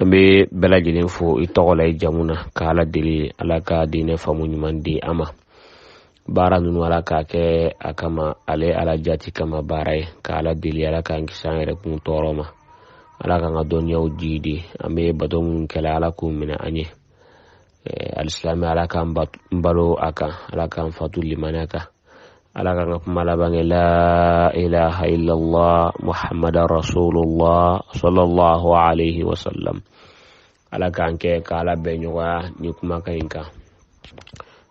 an bɛ bɛɛ lajɛlen fo i tɔgɔ la i jamu na ka ala deli ala ka diinɛ faamu ɲuman di an ma baara ninnu ala k'a kɛ a kama ale ala jati kama baara ye ka ala deli ala k'an kisi an yɛrɛ kun tɔɔrɔ ma ala k'an ka dɔnniyaw jiidi an bɛ bato minnu kɛ la ala k'u minɛ an ye alisilame ala k'an balo a kan ala k'an fatu limaniya kan ala k'an ka kuma laban kɛ la ilaha illallah muhammad rasulullah sallallahu alaihi wa sallam ala k'an kɛ k'ala bɛn ɲɔgɔnya nin kumakan in kan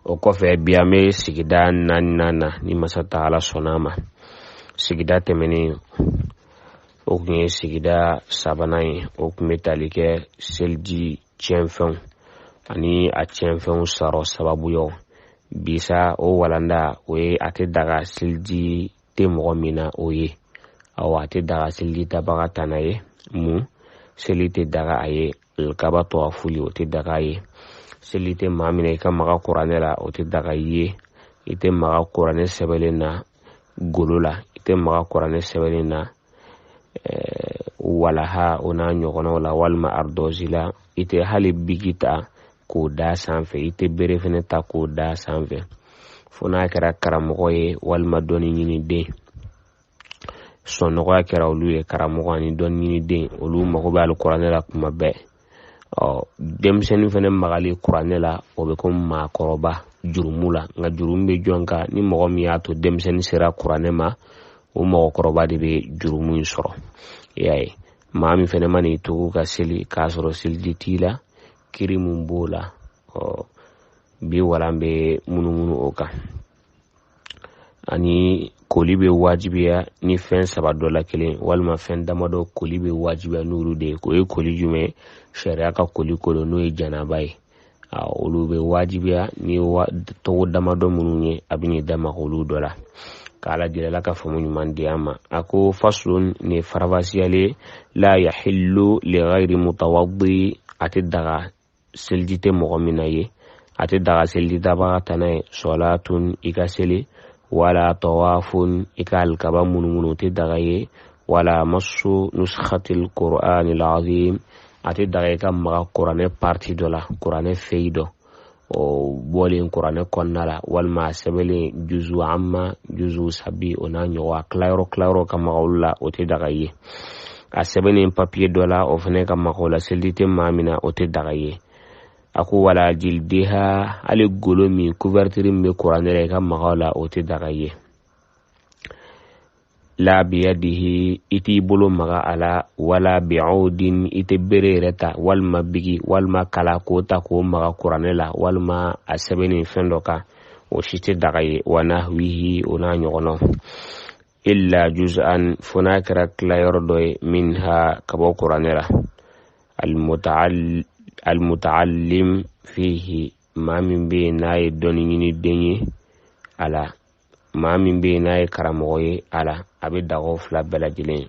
o kɔfɛ bi an bɛ sigida naaninan na ni masa ta'ala sɔnna a ma sigida tɛmɛnen o tun ye sigida sabanan ye o tun bɛ tali kɛ seliji tiɲɛfɛnw ani a tiɲɛfɛnw sɔrɔ sababuyaw bi sa o walanda o ye a tɛ daga seliji tɛ mɔgɔ min na o ye awa a tɛ daga seliji tabaga tana ye mun seli tɛ daga a ye alikaba tawafuli o tɛ daga a ye seli tɛ maa min na i ka maga kuranɛ la o tɛ daga i ye i tɛ maga kuranɛ sɛbɛnlen na golo la i tɛ maga kuranɛ sɛbɛnlen na walaha o n'a ɲɔgɔnnaw la walima aridɔsi la i tɛ hali biki ta k'o da a sanfɛ i tɛ bere fɛnɛ ta k'o da a sanfɛ fo n'a kɛra karamɔgɔ ye walima dɔnni ɲini den sɔnɔgɔya kɛra olu ye karamɔgɔ ani dɔnni ɲini den olu mago bɛ alikuranɛ la kuma bɛɛ ɔ denmisɛnnin fɛnɛ magali kuranɛ la o bɛ komi maakɔrɔba jurumu la nka jurumu bɛ jɔn kan ni mɔgɔ min y'a to denmisɛnnin sera kuranɛ ma o mɔgɔkɔrɔba de bɛ jurumu in sɔrɔ i y'a ye maa min fɛnɛ mana i tugu ka seli k'a sɔrɔ seliji t'i la kiri mun b'o la ɔ bi walan bɛ munumunu o kan ani koli bɛ wajibiya ni fɛn saba dɔ la kelen walima fɛn damadɔ koli bɛ wajibiya n'olu de ye o ye koli jumɛn sariya ka koli ko don n'o ye janaba ye olu bɛ wajibiya ni tɔgɔ damadɔ minnu ye a bɛ n'i da maga olu dɔ la k'ala deli ala ka faamu ɲuman di an ma a ko faslun nin farafasiyalen la yahillu li ghayri mutawaddi a tɛ daga seliji tɛ mɔgɔ min na ye a tɛ daga seliji tabaga tana ye salatun i ka seli wala tawafun i ka alikaba munumunu o tɛ daga a ye wala massu nuskhatil qur'anil azim a tɛ daga i ka maga kuranɛ parti dɔ la kuranɛ feyi dɔ o bɔlen kuranɛ kɔnɔna la walima a sɛbɛnlen juzu amma juzu sabi o n'a ɲɔgɔn a tilayɔrɔ tilayɔrɔ ka maga olu la o tɛ daga a ye a sɛbɛnnen papiye dɔ la o fana ka maga o la seliji tɛ maa min na o tɛ daga ye a ko wala jildiha hali golo min couverture min bɛ kuranɛ la i ka maga a la o tɛ daga ye la biyadihi i t'i bolo maga a la wala bi'udin i tɛ bere yɛrɛ ta walima biki walima kala k'o ta k'o maga kuranɛ la walima a sɛbɛnni fɛn dɔ kan o si tɛ daga ye wa nahwihi o n'a ɲɔgɔnnaw illa juz'an fo n'a kɛra tilayɔrɔ dɔ ye minha ka bɔ kuranɛ la almutaallim fihi maa min bɛ yen n'a ye dɔnni ɲini den ye a la maa min bɛ yen n'a ye karamɔgɔ ye a la a bɛ daga u fila bɛɛ lajɛlen ye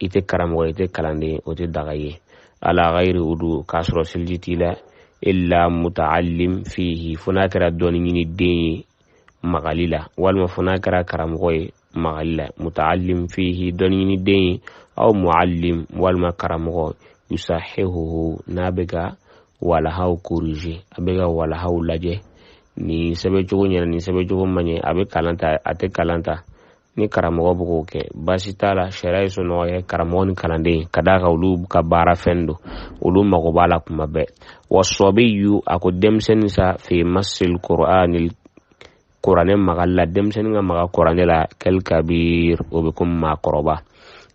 i tɛ karamɔgɔ i tɛ kalanden o tɛ daga ye ala ghayri udu k'a sɔrɔ seliji t'i la illa muta'allim fihi fo n'a kɛra dɔnni ɲini den ye magali la walima fo n'a kɛra karamɔgɔ ye magali la muta'allim fihi dɔnni ɲini den ye aw mu'allim walima karamɔgɔ yusahihuhu n'a bɛ ka walahaw corriger a bɛ ka walahaw lajɛ nin sɛbɛncogo ɲɛna nin sɛbɛncogo ma ɲɛ a bɛ kalan ta a tɛ kalan ta ni karamɔgɔ bɛ k'o kɛ baasi t'a la sariya ye sɔnɔgɔya karamɔgɔ ni kalanden ka d'a kan olu ka baara fɛn don olu mago b'a la kuma bɛɛ wa sɔbiyu a ko denmisɛnnin sa fi masil qur'ani kuranɛ magali la denmisɛnnin ka maga kuranɛ la kal kabir o bɛ komi maakɔrɔba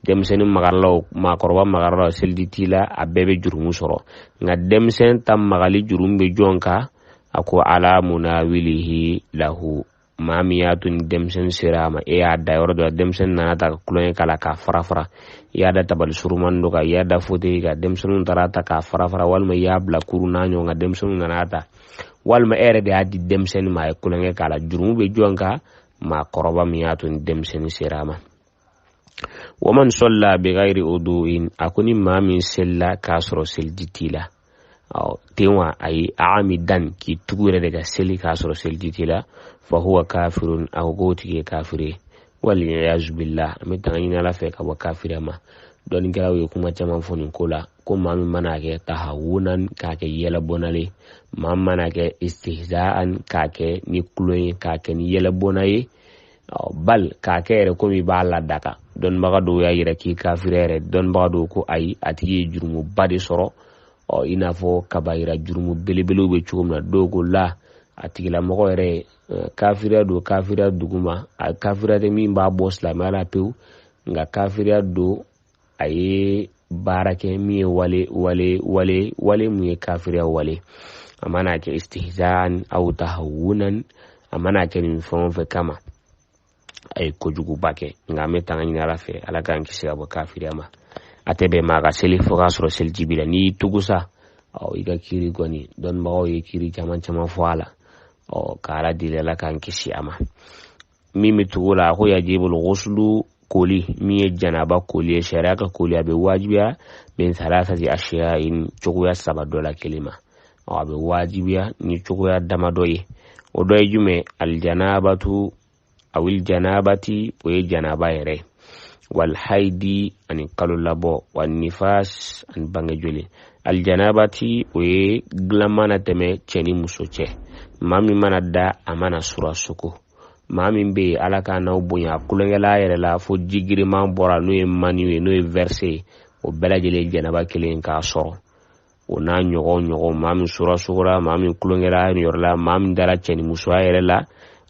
denmisɛnnin magara a la wo maakɔrɔba magara a la wo seliji t'i la a bɛɛ bɛ jurumu sɔrɔ nka denmisɛn ta magali jurumu bɛ jɔn kan a ko ala munawilihi lahu maa min y'a to ni denmisɛnnin sera a ma e y'a da yɔrɔ dɔ la denmisɛnnin nana a ta ka tulonkɛ k'a la k'a fara fara i y'a da tabali surunmannin dɔ kan i y'a da fotɛyi kan denmisɛnnin taara a ta k'a fara fara walima i y'a bila kurun n'a ɲɔgɔn kan denmisɛnnin nana a ta walima e yɛrɛ de y'a di denmisɛnnin ma a ye tulonkɛ k'a la jurumu bɛ jɔn kan maakɔrɔba min y'a to ni denmisɛnnin sera a ma wa man sɔlla bi ghairi udu'in a ko ni maa min selila k'a sɔrɔ seliji t'i la ten wa ayi amidan k'i tugu yɛrɛ de ka seli k'a sɔrɔ seliji t'i la fa huwa kafirun a ko k'o tigi ye kafiri ye waliyazu billah an bɛ tanga ɲini ala fɛ ka bɔ kafiriya ma dɔnnikɛlaw ye kuma caman fɔ nin ko la ko maa min mana a kɛ tahawunan k'a kɛ yɛlɛbɔna ye maa min mana a kɛ istihzaan k'a kɛ ni tulon ye k'a kɛ ni yɛlɛbɔna ye bal k'a kɛ yɛrɛ komi i b'a ladaga dɔnnibaga dɔw y'a yira k'i kafiri yɛrɛ dɔnnibaga dɔw ko ayi a tigi ye jurumuba de sɔrɔ ɔ i n'a fɔ kabayira jurumu belebelew bɛ cogo min na dɔw ko la a tigilamɔgɔ yɛrɛ ye kafiriya don kafiriya duguma a kafiriya tɛ min b'a bɔ silamɛya la pewu nka kafiriya don a ye baara kɛ min ye wale wale mun ye kafiriya wale a mana kɛ istihzan aw tahawunan a mana kɛ nin fɛn o fɛn kama a ye kojuguba kɛ nka an bɛ tanga ɲini ala fɛ ala k'an kisi ka bɔ kafiriya ma a tɛ bɛn maa ka seli fo k'a sɔrɔ seliji b'i la n'i y'i tugu sa ɔ i ka kiri kɔni dɔnnibagaw ye kiri caman caman fɔ a la ɔ ka ala deli ala k'an kisi a ma min bɛ tugu la a ko yajibul guslu koli min ye janaba koli ye sariya ka koli a bɛ wajibiya min salasati asiya in cogoya saba dɔ la kelen ma a bɛ wajibiya ni cogoya damadɔ ye o dɔ ye jumɛn alijanabatu awil janabati o ye janaba yɛrɛ ye walhaidi ani kalo labɔ wa nifas ani bange joli aljanabati o ye dilan mana tɛmɛ cɛ ni muso cɛ maa min mana da a mana sura sugo maa min bɛ ala k'a n'aw bonya a kulonkɛla a yɛrɛ la fo ji giriman bɔra n'o ye maniyu ye n'o ye verse ye o bɛɛ lajɛlen janaba kelen k'a sɔrɔ o n'a ɲɔgɔn ɲɔgɔn maa min sura sugora maa min tulonkɛra a yɛrɛ la maa min dara cɛ ni musoya yɛrɛ la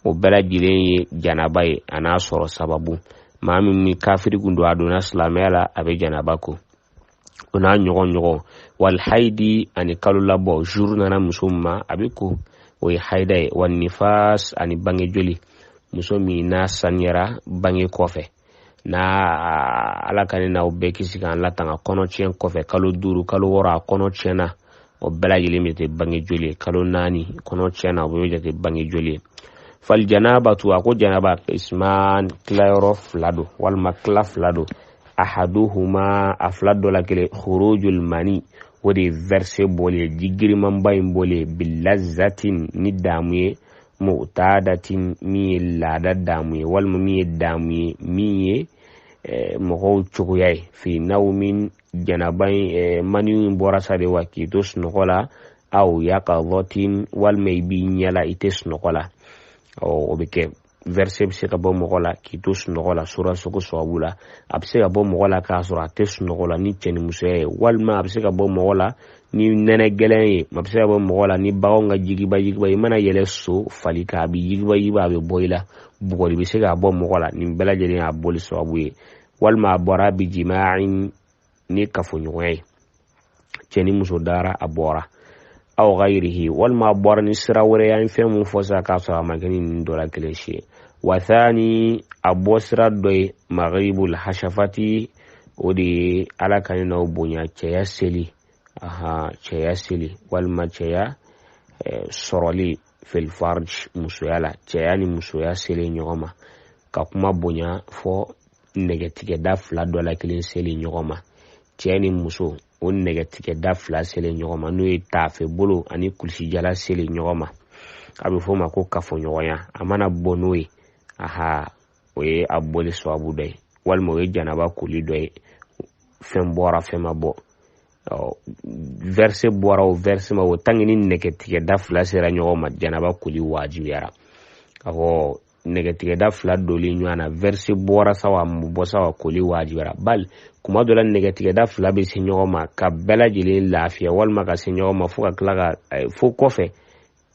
o bɛɛ lajɛlen ye janaba ye a n'a sɔrɔ sababu maa min ni kafiri kun don a donna silamɛya la a bɛ janaba ko o n'a ɲɔgɔn ɲɔgɔn walhaidi ani kalo labɔ zuru nana muso min ma a bɛ ko o ye haida ye wa nifas ani bange joli muso min n'a saniyara bange kɔfɛ n'a ala ka ne n'aw bɛɛ kisi k'an latanga kɔnɔ tiɲɛ kɔfɛ kalo duuru kalo wɔɔrɔ a kɔnɔ tiɲɛna o bɛɛ lajɛlen bɛ kɛ bange joli ye kalo naani kɔnɔ tiɲɛna o bɛ kɛ bange joli ye fal janabatu a ko janaba kisman tilayɔrɔ fila don walima tila fila don ahaduhuma a fila dɔ la kelen khurujul mani o de ye verse bɔli ye ji girinmanba in bɔli ye bilazatin ni daamu ye mutadatin min ye laada daamu ye walima min ye daamu ye min ye eh, mɔgɔw cogoya ye fi nawmin janaba in eh, maniyu in bɔra sa de wa k'i to sunɔgɔ la aw yakazatin walima i b'i ɲɛ la i tɛ sunɔgɔ la o bɛ kɛ verse bɛ se ka bɔ mɔgɔ la k'i to sunɔgɔ la sura sugo sababu la a bɛ se ka bɔ mɔgɔ la k'a sɔrɔ a tɛ sunɔgɔ la ni cɛnimusoya ye walima a bɛ se ka bɔ mɔgɔ la ni nɛnɛ gɛlɛn ye a bɛ se ka bɔ mɔgɔ la ni baganw ka jigiba jigiba i mana yɛlɛ so fali kan a bɛ yigiba yigiba a bɛ bɔ i la bugɔli bɛ se k'a bɔ mɔgɔ la nin bɛɛ lajɛlen y'a bɔli sababu ye walima a bɔra bi jima in ni kafoɲɔgɔnya ye cɛ ni muso dara a bɔra aw gayirihi walima a bɔra ni sira wɛrɛ ye an fɛn mun fɔ sisan k'a sɔrɔ a ma kɛ ni ninnu dɔ la kelen si ye wasani a bɔ sira dɔ ye magibul hasafati o de ye ala ka ne n'aw bonya cɛya seli ahan cɛya seli walima cɛya eh, sɔrɔli fil farj musoya la cɛya ni musoya seli ɲɔgɔn ma ka kuma bonya fɔ nɛgɛtigɛda fila dɔ la kelen seli ɲɔgɔn ma cɛ ni muso o nɛgɛtigɛda fila seli ɲɔgɔn ma n'o ye taafe bolo ani kulisijala seli ɲɔgɔn ma a bɛ fɔ o ma ko kafoɲɔgɔnya a mana bɔ n'o ye aha o ye a bɔli sababu dɔ ye walima o ye janaba koli dɔ ye fɛn bɔra fɛn ma bɔ vɛrse bɔra o vɛrse ma bɔ o tanke ni nɛgɛtigɛda fila sera ɲɔgɔn ma janaba koli wajibiyara a ko nɛgɛtigɛda fila doli ɲɔgɔn na vɛrse bɔra sawa a ma bɔ sawa koli wajibiyara bal kuma dɔ la nɛgɛtigɛda fila bɛ se ɲɔgɔn ma k'a bɛɛ lajɛlen lafiya walima ka se ɲɔgɔn ma fo ka tila ka fo kɔfɛ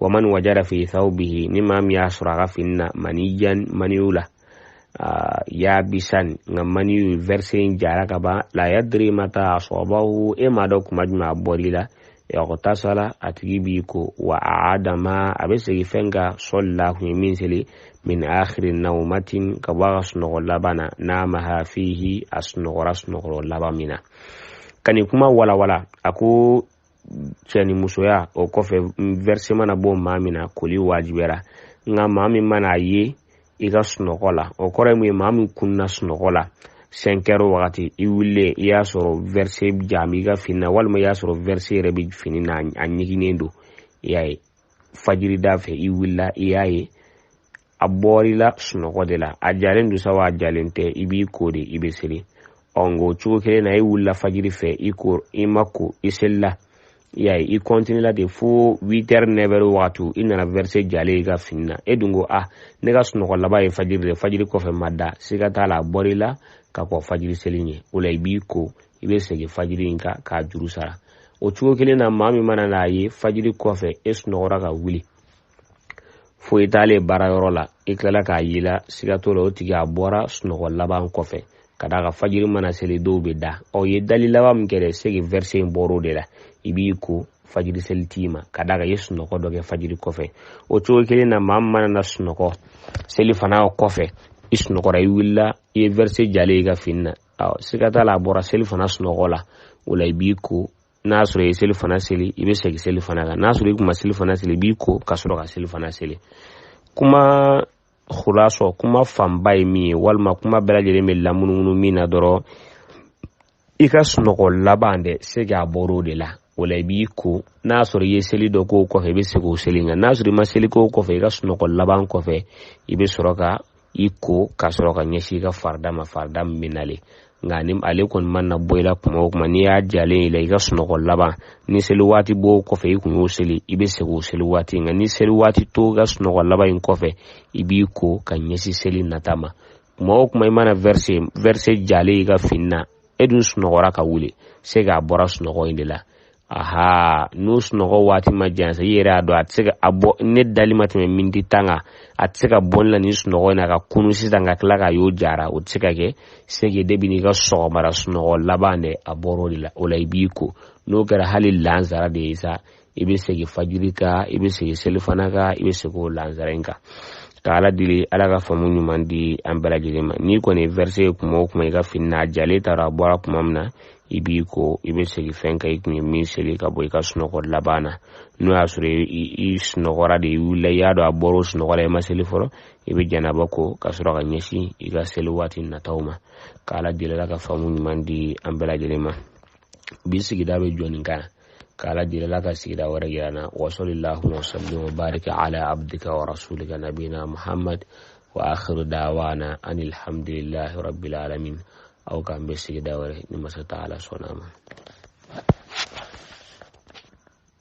wa man wajada fi thawbihi ni maa min y'a sɔrɔ a ka fini na maniyan maniyu la yabisan nka maniyu verse in jara ka ban la yadri mata asabahu i m'a dɔn kuma jumɛn a bɔr'i la ightasala a tigi b'i ko wa a'ada ma a bɛ segin fɛn kan salla a kun ye min seli min akhiri nawmatin ka bɔ a ka sunɔgɔ laban na namaha fihi a sunɔgɔra sunɔgɔ laban min na ka nin kuma walawala a ko cɛ ni musoya o kɔfɛ vɛrisi mana bɔ maa min na koli wajibiyara nka maa min mana a ye i ka sunɔgɔ la o kɔrɔ ye mun ye maa min kunna sunɔgɔ la sɛnkɛri wagati i wulilen i y'a sɔrɔ vɛrisi ja b'i ka fini na walima i y'a sɔrɔ vɛrisi yɛrɛ bɛ fini na a ɲiginnen don i y'a ye fajiri da fɛ i wulila i y'a ye a bɔr'i la sunɔgɔ de la a jalen don sawa a jalen tɛ i b'i ko de i bɛ seli ɔ nka o cogo kelen na i wulila fajiri fɛ i ko i ma ko i selila i y'a ye i kɔntinila de fo witɛri nɛvɛri wagati i nana vɛrise jalen y'i ka fini na e dun ko a ah, ne ka sunɔgɔ laban ye fajiri de fajiri kɔfɛ n ma da siga t'a la a bɔr'i la ka kɔn fajiri seli ɲɛ o la i b'i ko i bɛ segin fajiri in kan k'a juru sara o cogo kelen na maa min mana n'a ye fajiri kɔfɛ e sunɔgɔra ka wuli fo i taalen baara yɔrɔ la i tilala k'a y'i la siga t'o la o tigi a bɔra sunɔgɔ laban kɔfɛ ka d'a kan fajiri mana seli dɔw bɛ da ɔ i ye dali laban min kɛ dɛ seki vɛrisi in bɔra o de la i b'i ko fajiri seli t'i ma ka d'a kan i ye sunɔgɔ dɔ kɛ fajiri kɔfɛ o cogo kelen na maa min mana na sunɔgɔ selifana kɔfɛ i sunɔgɔra i wulila i ye vɛrisi jalen y'i ka fini na ɔ siga t'a la a bɔra selifana sunɔgɔ la o la i b'i ko n'a sɔrɔ i ye selifana seli i bɛ segin selifana kan n'a sɔrɔ i kun ma selifana seli i b'i ko ka sɔrɔ ka selifana seli kuma khulasɔ kuma fanba ye min ye walima kuma bɛɛ lajɛlen bɛ lamunumunu min na dɔrɔn i ka sunɔgɔ laban dɛ se k'a bɔr'o de la o la i b'i ko n'a sɔrɔ i ye seli dɔ k'o kɔfɛ i bɛ segin o seli kan n'a sɔrɔ i ma seli k'o kɔfɛ i ka sunɔgɔ laban kɔfɛ i bɛ sɔrɔ ka i ko ka sɔrɔ ka ɲɛsin i ka farida ma farida min bɛ nalen nka ni ale kɔni mana bɔ i la kuma o kuma n'i y'a jalen i la i ka sunɔgɔ laban ni seli waati b'o kɔfɛ i kun y'o seli i bɛ segin o seli waati nka ni seli waati t'o i ka sunɔgɔ laban in kɔfɛ i b'i ko ka ɲɛsin seli nata ma kuma o kuma i mana vɛrse vɛrse jalen i ka fini na e dun sunɔgɔra ka wuli c'est que a bɔra sunɔgɔ in de la aha n'o sunɔgɔ waati ma jan sa i yɛrɛ y'a dɔn a tɛ se ka a bɔ ne dali ma tɛmɛ miniti tan kan a tɛ se ka bɔ ne la nin sunɔgɔ in na ka kunun sisan ka tila k'a y'o jara o tɛ se ka kɛ c'est que depuis n'i ka sɔgɔmara sunɔgɔ laban de a bɔra o de la o la i b'i ko n'o kɛra hali lansara de ye sa i bɛ segin fajiri kan i bɛ segin selifana kan i bɛ segin o lansara in kan ka ala deli ala ka faamu ɲuman di an bɛɛ lajɛlen ma n'i kɔni ye verse ye kuma o kuma i ka fini na a jalen t'a dɔn a bɔra kuma min na i b'i ko i bɛ segin fɛn kan i kun ye min seli ka bɔ i ka sunɔgɔ laban na n'o y'a sɔrɔ i sunɔgɔra de i wulila i y'a dɔn a bɔra o sunɔgɔ la i ma seli fɔlɔ i bɛ janaba ko ka sɔrɔ ka ɲɛsin i ka seli waati nataw ma k'ala deli ala ka faamu ɲuman di an bɛɛ lajɛlen ma bi sigida bɛ jɔ nin kan k'ala deli ala ka sigida wɛrɛ yira an na wasalillahuma wasallim wa barik ala abdika wa rasulika nabina muhammad wa akhiru dawana anilhamdulillahi rabbil alamin aw k'an bɛn sigida wɛrɛ ni masa taala sɔnna a ma